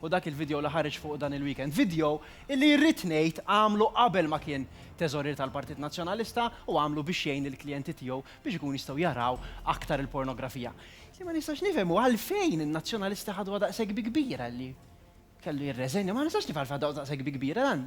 u dak il-video li ħareġ fuqu dan il-weekend, video illi irrid ngħid għamlu qabel ma kien Teżorier tal-Partit Nazzjonalista u għamlu biex jgħin lill-klijenti tiegħu biex ikunu jistgħu jaraw aktar il-pornografija. Li ma nistax nifhem hu għalfejn in-Nazzjonalisti ħaduha daqshekk bi kbira li kellu jirreżenja, ma nistax nifhem għalfejn ħaduha daqshekk bi kbira dan.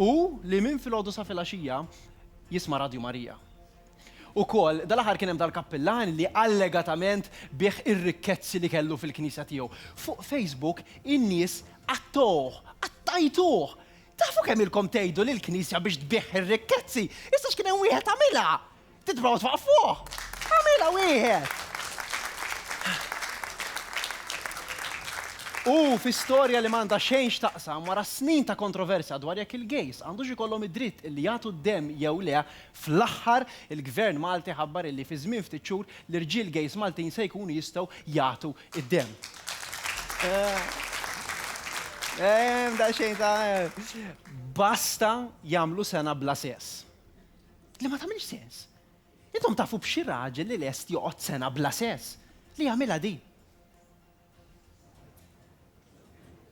u li minn filgħodu sa filgħaxija jisma' Radju Marija. Ukoll, dal-aħħar kien hemm dal-kappillan li allegatament biegħ ir-rikkezzi li kellu fil-knisja tiegħu. Fuq Facebook in-nies qattgħuh, qattajtuh! Tafu kemm ilkom tgħidu lill-knisja biex tbiegħ ir-rikkezzi, issa x'kien hemm wieħed għamilha! Titprova twaqqaf fuq! Għamilha wieħed! U fi storja li m'għandha xejn x'taqsam wara snin ta' kontroversja dwar jekk il-gays għandux ikollhom id-dritt li jagħtu d-demm jew le, fl-aħħar il-Gvern Malti ħabbar illi fi żmien ftit xhur l-irġiel gays Maltin se jkunu jistgħu jagħtu d-demm. Hemm daqsxejn ta' basta jagħmlu sena bla sess. Li ma tagħmilx sens. Intom tafu b'xi raġel li lest joqgħod sena bla sess li jagħmilha di.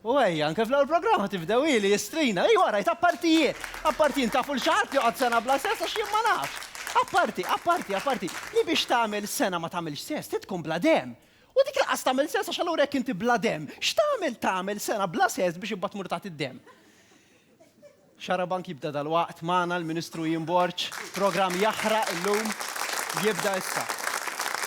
U għaj, anke fl-għol programma tibdew li jistrina, i għara, appartijiet, appartijiet, tafu l-xaħat li għad sena bla sess, għax jimma naf. Apparti, apparti, apparti, li biex tamil sena ma tamil sess, titkun bla dem. U dik laqas tamil sess, għax għallura jek inti bla dem, xtamil tamil sena bla sess biex ibbat murtat id-dem. Xarabank jibda dalwaqt magħna l-Ministru Ian Borg. Programm jaħraq illum jibda issa.